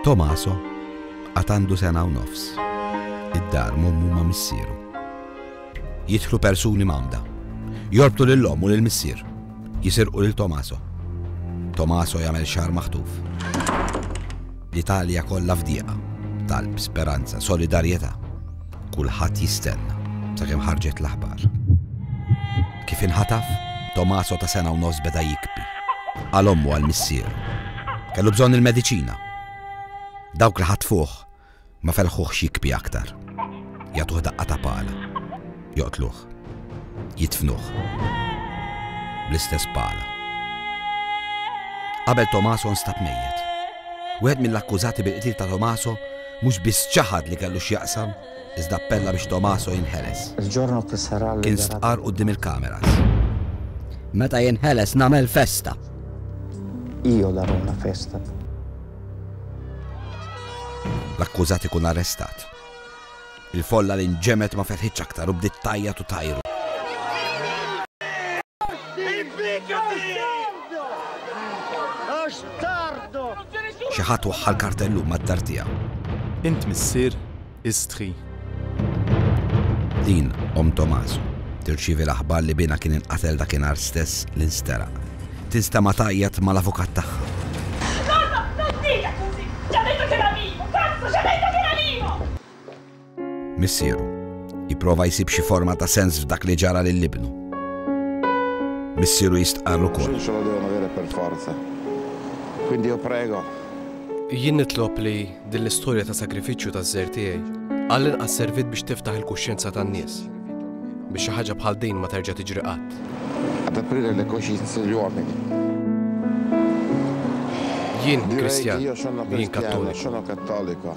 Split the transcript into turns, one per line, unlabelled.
Tomaso għad għandu sena u nofs. Id-dar mommu ma' missieru. Jidħlu persuni mamda. Jorbtu lill-om u lill-missier. Jisirqu lil Tomaso. Tomaso jagħmel xar maħtuf. L-Italja kollha fdiqa. Talb, speranza, solidarjetà. Kulħadd jistenna sakemm ħarġet l-aħbar. Kif inħataf, Tommaso ta' sena u nofs beda jikbi. Għal ommu għal missieru. Kellu bżonn il-mediċina. Dawk li ħatfuh ma felħuħx jikbi aktar. Jagħtuh daqqa ta' pala. Joqtluh. Jitfnuh. Bl-istess pala. Qabel Tomaso nstab mejjet. Wieħed mill-akkużati bil-qtil ta' Tomaso Mhux biss ċaħad li kellu x'jaqsam, iżda appella biex Tommaso jinħeles. Kien stqarr quddiem il-kameras.
Meta jinħeles nagħmel festa.
Io darò una festa.
L-akkużat ikun arrestat. Il-folla li nġemet ma ferħitx aktar u bdiet tajjat u tajru. Xi ħadd waħħal kartellu mad-dar tiegħu. Int missier
Istħi.
Din omm Tomas tirċievi l-aħbar li binha kien inqatel dakinhar stess li nsteraq. Tinstema' tgħajjat mal-avukat tagħha. Missieru. Jipprova jsib xi forma ta' sens f'dak li ġara lil ibnu. Missieru jistqarr ukoll. Gesù ce lo devono dire per forza.
Quindi io prego. Jien
nitlob li din l-istorja ta' sagrifiċċju taż-żgħir tiegħi għall-inqas serviet biex tiftaħ il-kuxjenza tan-nies, biex xi ħaġa bħal din ma terġa' tiġri qatt. Ad aprire
le coscienze degli uomini.
Jien Kristjan. Jien Kattoliku.